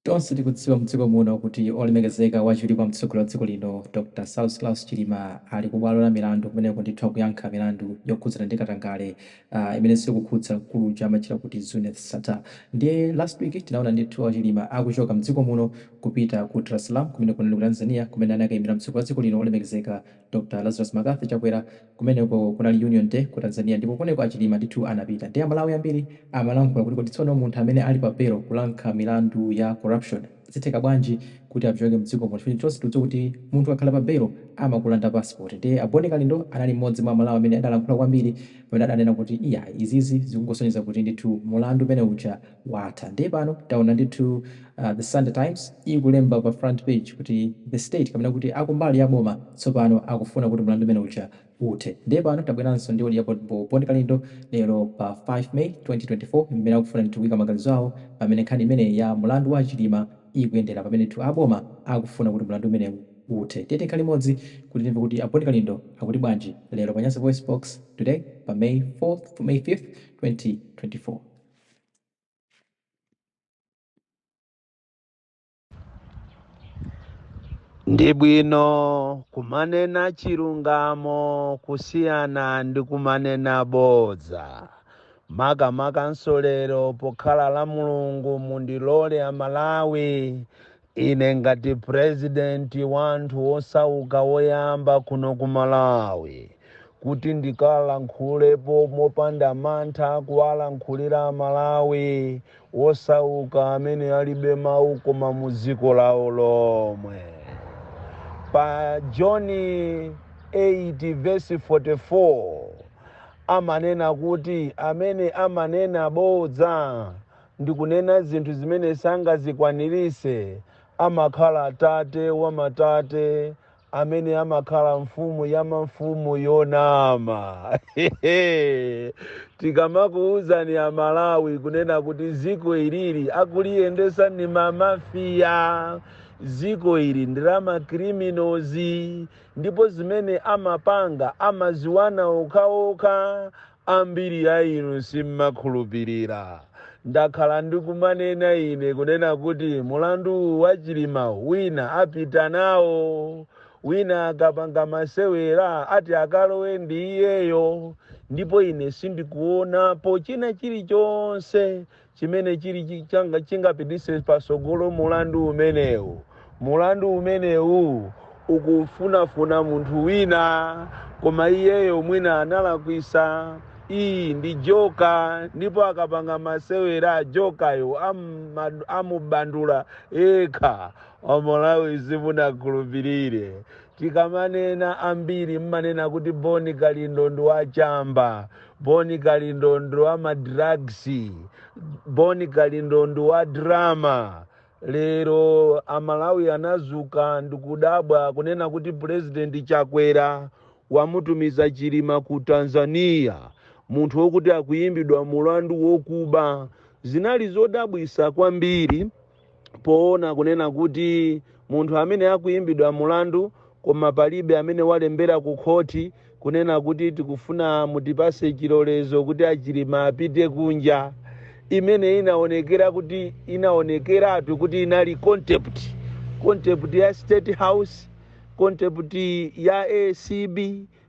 Tonse tikudziwa mdziko muno kuti olemekezeka wachiwiri kwa mtsogoleri wa dziko lino Dr Saulos Klaus Chilima ali ku bwalo la milandu kumeneko ndithu akuyankha milandu yokhudzana ndi katangale imenenso ikukhudza mkulu uja amatchedwa kuti Zuneth Sattar ndiye last week tinaona ndithu a Chilima akuchoka mdziko muno kupita ku Dar es Salaam kumeneko ndi ku Tanzania kumene anakaimira mtsogoleri wa dziko lino olemekezeka Dr Lazarus Mccarthy Chakwera kumeneko kunali Union Day ku Tanzania ndipo kumeneko a Chilima ndithu anapita nde amalawi ambiri amalankhula kuti kodi tsono munthu amene ali pa belo kuyankha milandu ya corruption zitheka bwanji kuti achoke mdziko muno chifukwa tonse tikudziwa kuti munthu ukakhala pa belo amakulanda passport nde a Boni Kalindo anali mmodzi mwa amalawi amene adalankhula kwambiri pamene adanena kuti iyayi izizi zikungosonyeza kuti ndithu mulandu umene uja watha ndiye pano taona ndithu the sunday times ikulemba pa front page kuti the state kapena kuti akumbali ya boma tsopano akufuna kuti mlandu umene uja uthe ndiye pano tabweranso ndi audio ya boni kalindo lero pa 5 may 2024 pamene akufuna ndithu kuika maganizo awo pamene nkhani imeneyi ya mlandu wa achilima ikuyendera pamene ndithu aboma akufuna kuti mlandu umenewu uthe tiyeni tikhale limodzi kuti timve kuti a boni kalindo akuti bwanji lero pa nyasa voice box today pa may 5th 2024. Ndi bwino kumanena chilungamo kusiyana ndi kumanena bodza. Makamaka nso lero pokhala la Mulungu mundilole a Malawi Ine ngati president wanthu wosauka woyamba kuno ku Malawi kuti ndikalankhulepo mopanda mantha kuwalankhulira a Malawi wosauka amene alibe mawu koma mu dziko lawo lomwe. Pa John 8 verse 44 amanena kuti amene amanena bodza ndi kunena zinthu zimene sangazikwaniritse, amakhala tate wa matate amene amakhala mfumu ya mamfumu yonama. Tikamakuuzani a Malawi kunena kuti ziko ilili akuliyendesa ni mamafiya, ziko ili ndi la makriminozi ndipo zimene amapanga amaziwana okhaokha, Ambiri a inu sim'makhulupirira. Ndakhala ndikumanena ine kunena kuti mulandu uwu wa Chilimawu wina apita nawo. Wina akapanga masewera ati akalowe ndi iyeyo. Ndipo ine sindikuonapo china chilichonse chimene chili chi- changa- chingapititse patsogolo mulandu umenewu mulandu umenewu ukufunafuna munthu wina koma iyeyo mwina analakwisa iyi ndi joka ndipo akapanga masewera a jokayo amma- amubandula yekha amalawi simunakhulupirire tikamanena ambiri mmanena kuti boni kalindo ndi wachamba Boni kalindo ndi wa ma drugs, boni kalindo ndi wa drama. Lero amalawi anazuka ndikudabwa kunena kuti president chakwera wamutumiza chilima ku tanzania munthu wokuti akuyimbidwa mulandu wokuba. Zinali zodabwisa kwambiri. poona kunena kuti munthu amene akuyimbidwa mulandu koma palibe amene walembera ku khoti kunena kuti tikufuna mutipase chilolezo kuti achilima apite kunja imene inaonekera kuti inaonekeratu kuti inali contempt contempt ya state house contempt ya acb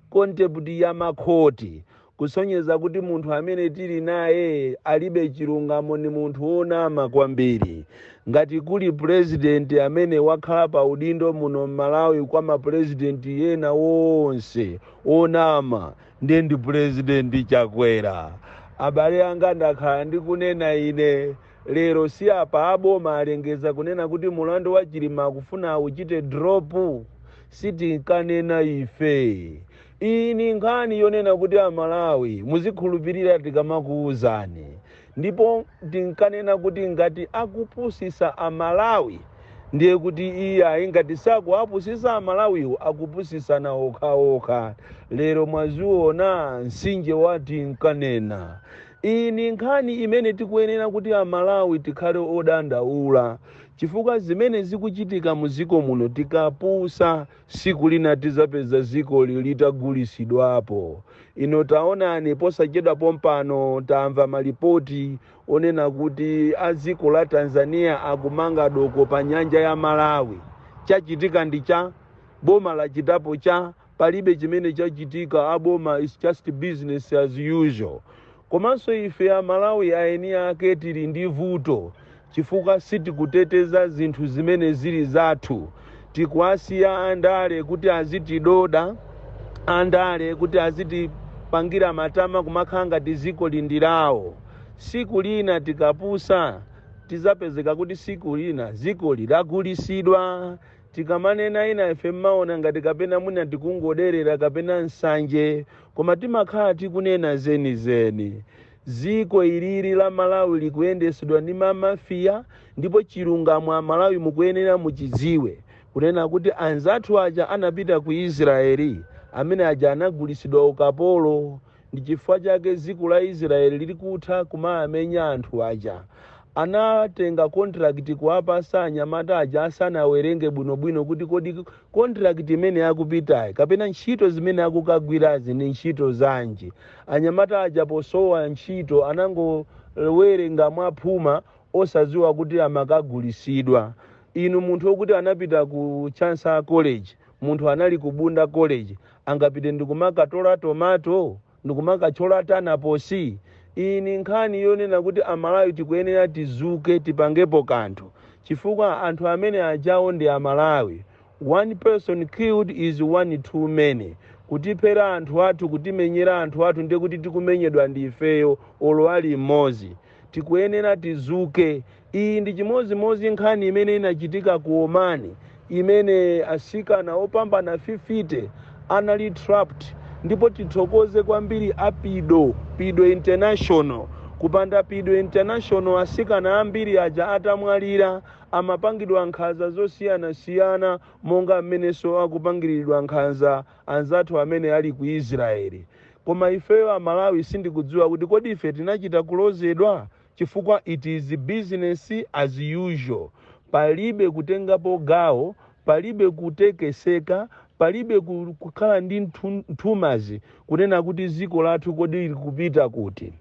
Contempt ya makhoti kusonyeza kuti munthu amene tili naye alibe chilungamo ni munthu wonama kwambiri. Ngati kuli pulezidenti amene wakhala pa udindo muno m'Malawi kwa ma pulezidenti ena onse onama ndiye ndi pulezidenti Chakwera. Abale anga ndakhala ndikunena ine. Lero si apa a boma alengeza kunena kuti mulandu wa Chilima akufuna auchite drop? Sitinkanena ife. Iyi ni nkhani yonena kuti a Malawi muzikhulupirira tikamakuuzani. Ndipo tinkanena kuti ngati akupusisa a Malawi ndiye kuti iyayi ngati sakuwapusisa a Malawiwo akupusisana okhaokha. Lero mwaziona nsinje uja tinkanena. Iyi ni nkhani imene tikuyenera kuti a Malawi tikhale odandaula chifukwa zimene zikuchitika mu dziko muno tikapusa siku lina tizapeza dzikoli litagulisidwapo. Ino taonani posachedwa pompano tamva malipoti onena kuti a dziko la Tanzania akumanga doko pa nyanja ya Malawi. Chachitika ndi cha? Boma lachitapo cha? palibe chimene chachitika aboma is just business as usual komanso ife amalawi aeni ake tili ndi vuto chifukwa sitikuteteza zinthu zimene zili zathu tikuwasiya andale kuti azitidoda andale kuti azitipangira matama kumakhala ngati ziko lili ndi lawo siku lina tikapusa tizapezeka kuti siku lina ziko litagulisidwa Tikamanena ina ife mmaona ngati kapena mwina tikungoderera kapena nsanje koma timakhala tikunena zenizeni. Dziko ilili la Malawi likuyendesedwa ndi mamafia ndipo chilungamo amalawi mukuyenera muchidziwe kunena kuti anzathu aja anapita ku Israel amene aja anagulisidwa ukapolo. Ndi chifukwa chake dziko la Israel lili kutha kumawamenya anthu aja. Anatenga contract kuwapasa anyamata aja asanawerenge bwinobwino kuti kodi contract imene akupitayi kapena ntchito zimene akukagwirazi ndi ntchito zanji. Anyamata aja posowa ntchito anangowerenga mwaphuma osadziwa kuti amakagulisidwa. Inu munthu okuti anapita ku Chanco College, munthu anali ku Bunda College, angapite ndikumakatola tomato ndikumakatchola tanaposi iyi ndi nkhani yonena kuti amalawi tikuyenera tizuke tipangepo kanthu chifukwa anthu amene ajawo ndi amalawi one person killed is one too many kutiphera anthu athu kutimenyera anthu athu ndiye kuti tikumenyedwa ndi ifeyo olo ali mmodzi tikuyenera tizuke. Iyi ndi chimodzimodzi nkhani imene inachitika ku Oman imene atsikana opambana 50 anali trapped ndipo tithokoze kwambiri a pido, pido international. Kupanda pido international atsikana ambiri aja atamwalira amapangidwa nkhanza zosiyanasiyana monga mmenenso akupangiridwa nkhanza anzathu amene ali ku Israel koma ifeyo a Malawi sindikudziwa kuti kodi ife tinachita kulozedwa chifukwa it is business as usual palibe kutengapo gawo palibe kutekeseka palibe kukhala ndi nthumazi kunena kuti ziko lathu kodi likupita kuti.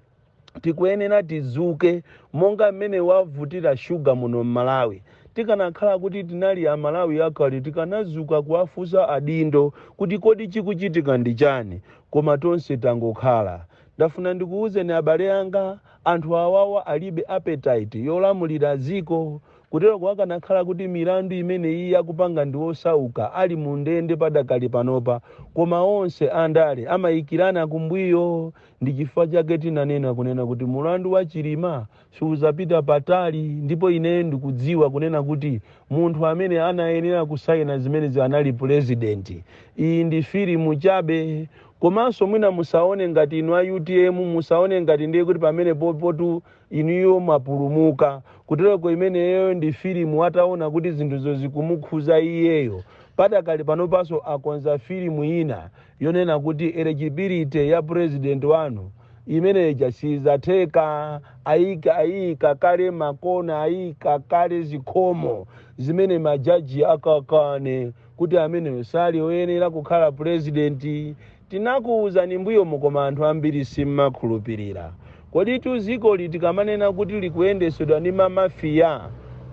tikuyenera tizuke monga mmene wavutira sugar muno mmalawi tikanakhala kuti tinali amalawi akale tikanazuka kuwafunsa adindo kuti kodi chikuchitika ndi chani koma tonse tangokhala ndafuna ndikuuzeni abale anga anthu awawa alibe appetite yolamulira dziko kuteroko akanakhala kuti milandu imeneyi akupanga ndi osauka ali mu ndende padakali panopa koma onse andale amayikirana kumbuyo Ndi chifukwa chake tinanena kunena kuti mulandu wa Chilima siuzapita patali ndipo ineyo ndikudziwa kunena kuti munthu amene anayenera kusaina zimenezi anali pulezidenti. Iyi ndi filimu chabe. Komanso mwina musaone ngati inu a utm musaone ngati ndiye kuti pamenepopotu inuyo mwapulumuka. Kuteroko imeneyoyo ndi filimu ataona kuti zinthuzo zikumukhuza iyeyo. Padakali panopanso akonza filimu ina. yonena kuti eligibility ya president wanu imeneja sizatheka ayika ayika kale makona ayika kale zikhomo zimene majaji akakane kuti ameneyo sali oyenera kukhala purezidenti tinakuwuzani mbuyomu koma anthu ambiri simmakhulupirira kodi tu dzikoli tikamanena kuti likuyendesedwa ndi mamafiya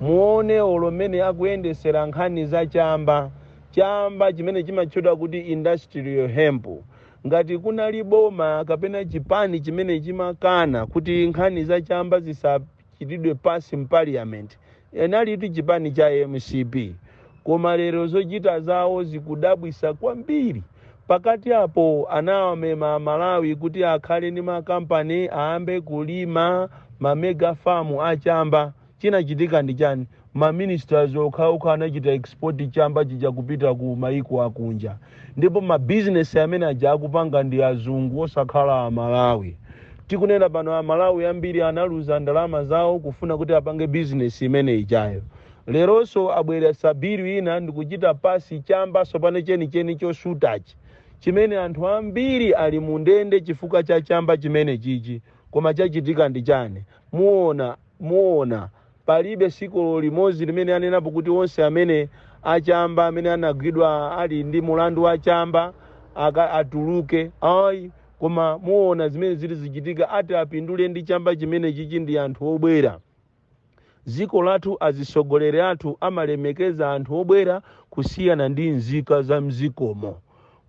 muone olo mmene akuyendesera nkhani za chamba chamba chimene chimatchedwa kuti industrial hemp ngati kunali boma kapena chipani chimene chimakana kuti nkhani za chamba zisachitidwe pass mpaliyamenti inalitu chipani cha mcp koma lero zochita zawo zikudabwisa kwambiri pakati apo anawamema amalawi kuti akhale ndi makampani ayambe kulima ma mega farm achamba Chinachitika ndi chani? Ma ministers okhaokha anachita export chamba chija kupita ku maiko akunja. Ndipo ma business amene aja akupanga ndi azungu osakhala a Malawi. Tikunena pano a Malawi ambiri analuza ndalama zawo kufuna kuti apange business imene ijayo. Leronso abweretsa bill ina ndikuchita pass chamba tsopano chenicheni chosutachi chimene anthu ambiri ali mu ndende chifukwa cha chamba chimenechichi. Koma chachitika ndi chani? Muona Muona, palibe siku olo limodzi limene anenapo kuti onse amene achamba amene anagwidwa ali ndi mulandu wa chamba atuluke ayi koma muona zimene zili zichitika ati apindule ndi chamba chimenechichi ndi anthu obwera dziko lathu azitsogoleri athu amalemekeza anthu obwera kusiyana ndi nzika za mdzikomo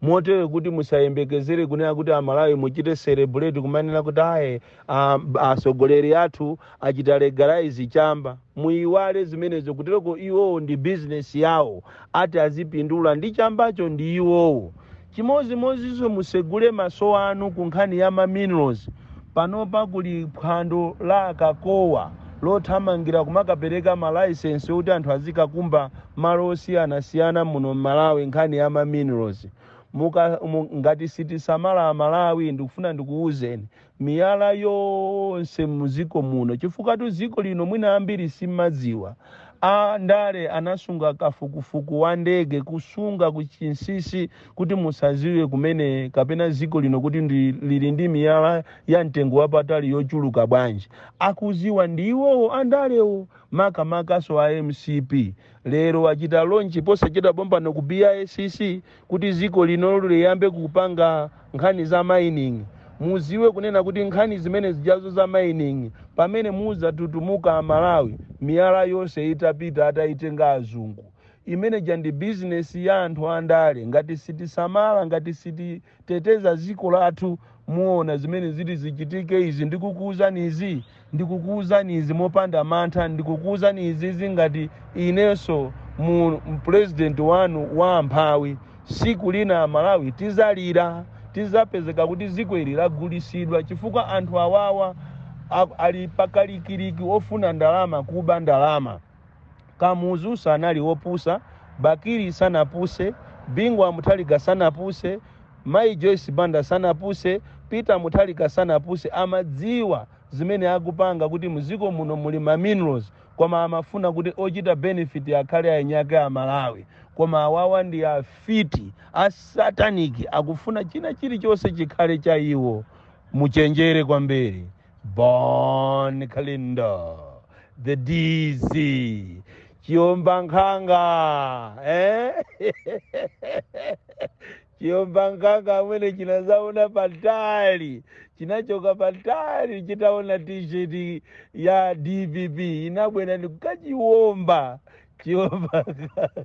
Motere kuti musayembekezere kunena kuti Amalawi muchite celebrate kumanena kuti ayi a- atsogoleri athu achita legalize chamba. Muyiwale zimenezo kutereko iwowo ndi business yawo ati azipindula ndi chambacho ndi iwowo. Chimodzimodzinso mutsegule maso anu ku nkhani ya ma minerals. Panopa kuli phwando la akakowa lothamangira kumakapereka ma license yoti anthu azikakumba malo osiyana siyana muno mmalawi nkhani ya ma minerals ngati sitisamala amalawi ndikufuna ndikuwuzeni miyala yonse muziko muno chifukwa tu ziko lino mwina ambiri simmadziwa a ndale anasunga kafukufuku wa ndege kusunga kuchinsisi kuti musaziwe kumene kapena ziko lino kuti lili ndi miyala ya mtengo wapatali yochuluka bwanji akuziwa ndi iwowo andalewo makamakanso a mcp lero achita launch posachedwa pompano ku bicc kuti dziko lino liyambe kupanga nkhani za mining mudziwe kunena kuti nkhani zimene zijazo za mining pamene mudzatutumuka amalawi miyala yonse itapita atayitenga azungu imeneja ndi bizinesi ya anthu andale ngati sitisamala ngati siti teteza dziko lathu muona zimene zili zichitike izi ndikukuuzani izi ndikukuuzani izi mopanda mantha ndikukuuzani izizi ngati inenso mu pulezidenti wanu wa amphawi siku lina amalawi tizalira tizapezeka kuti dziko ili lagulisidwa chifukwa anthu awawa a- ali pakalikiliki ofuna ndalama kuba ndalama Kamuzu sanali wopusa, Bakili sanapuse, Bingu wa Mutharika sanapuse, Mayi Joyce Banda sanapuse, Peter Mutharika sanapuse amadziwa zimene akupanga kuti muziko muno muli ma minerals koma amafuna kuti ochita benefit akhale eni ake a Malawi koma awawa ndi afiti a satanic akufuna china chilichonse chikhale cha iwo muchenjere kwambiri Bon Kalindo, the DC, Chiomba Nkhanga, eh? Chiomba Nkhanga mwene chinazaona patali, chinachoka patali chitaona t-shirt ya DPP inabwera ndikukachiomba Chiomba Nkhanga.